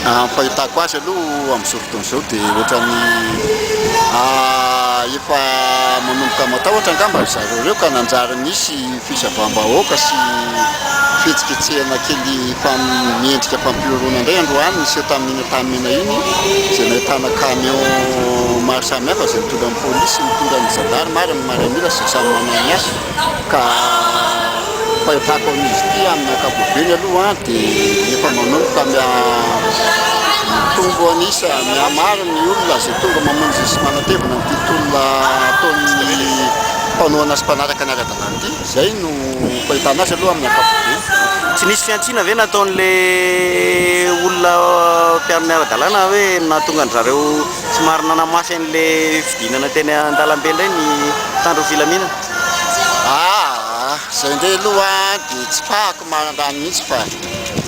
Raha ny fahitako azy aloha amin'izao fotoana izao dia ohatran'ny efa manomboka matahotra angamba ry zareo ireo ka nanjary nisy fisavàm-bahoaka sy fihetsiketsehana kely miendrika fampihoroana indray androany niseho tamin'iny Antanimena iny izay nahitana camion maro samihafa izay nitondra ny polisy, nitondra ny zandary, maro ny miaramila izay samy manana ny azy. ka fahitako amin'izy ity amin'ny ankapobeny aloha dia efa manomboka mitombo an'isa mihamaro ny olona izay tonga mamonjy sy manatevina an'ity tolona ataon'ny mpanohana sy mpanaraka ny ara-dalàna ity izay no fahitana azy aloha amin'ny ankapobeny tsy nisy fihantsiana ve nataon'ilay olona mpiaro ny ara-dalàna hoe nahatonga an-dry zareo Somary nanamafy an'ilay fidinana teny an-dalambe indray ny mpitandro ny filaminana. Aa, izay indray aloha dia tsipahako mandany mihitsy fa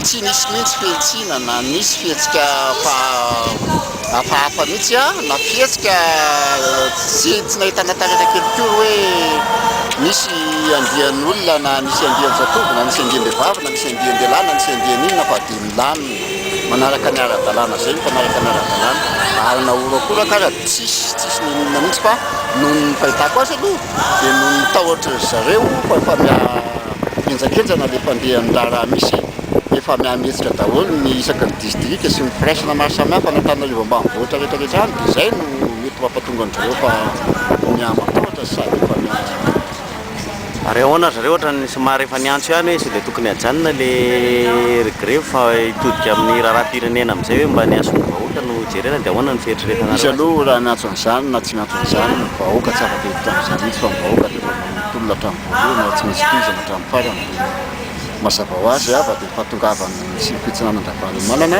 tsy nisy mihitsy fihantsiana na nisy fihetsika hafahafa mihitsy an, na fihetsika tsy nahitana taratra kely koa hoe nisy andian'olona na nisy andian-jatovo na nisy andiam-behivavy na nisy andian-dehilahy na nisy andian'inona fa dia nilamina. Manaraka ny ara-dalàna izay hita miaraka ny ara-dalàna ary na horakoraka aza dia tsisy tsisy ninoninona mihitsy fa noho ny fahitako azy aloha dia noho ny tahotra ry zareo fa efa miha henjakenjana ilay fandehan'ny raharaha misy e! efa miha mihetsika daholo ny isaky ny distrika sy ny firaisana maro samihafa any Antananarivo ambanivohitra rehetra rehetra any dia izay no mety mampatonga an-dry zareo fa miha matahotra sady efa miha Ary ahoana zareo ohatran'ny somary efa niantso ihany hoe sao dia tokony hajanona le ry grevy fa hitodika amin'ny raharaham-pirenena amin'izay hoe mba ny hasoan'ny vahoaka no jerena dia ahoana ny fieritreretanareo azy? Izy aloha raha niantso an'izany na tsy niantso an'izany ny vahoaka tsy afaka hiditra amin'izany mihitsy fa ny vahoaka dia efa mamono tolona hatramin'ny voalohany ary tsy maintsy tohizana hatramin'ny farany dia ny mazava ho azy ava dia efa tongava any sivy fitsinanan-dRavalomanana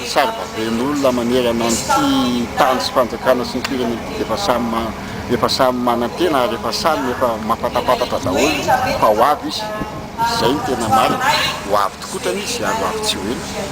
Sarobabein'olona manerana an'ity tany sy fanjakana sy ny firenena ity dia efa samy efa samy manantena ary efa samy efa mampatapatatra daholo fa ho avy izy, izay no tena marina, ho avy tokotrany izy ary ho avy tsy ho ela.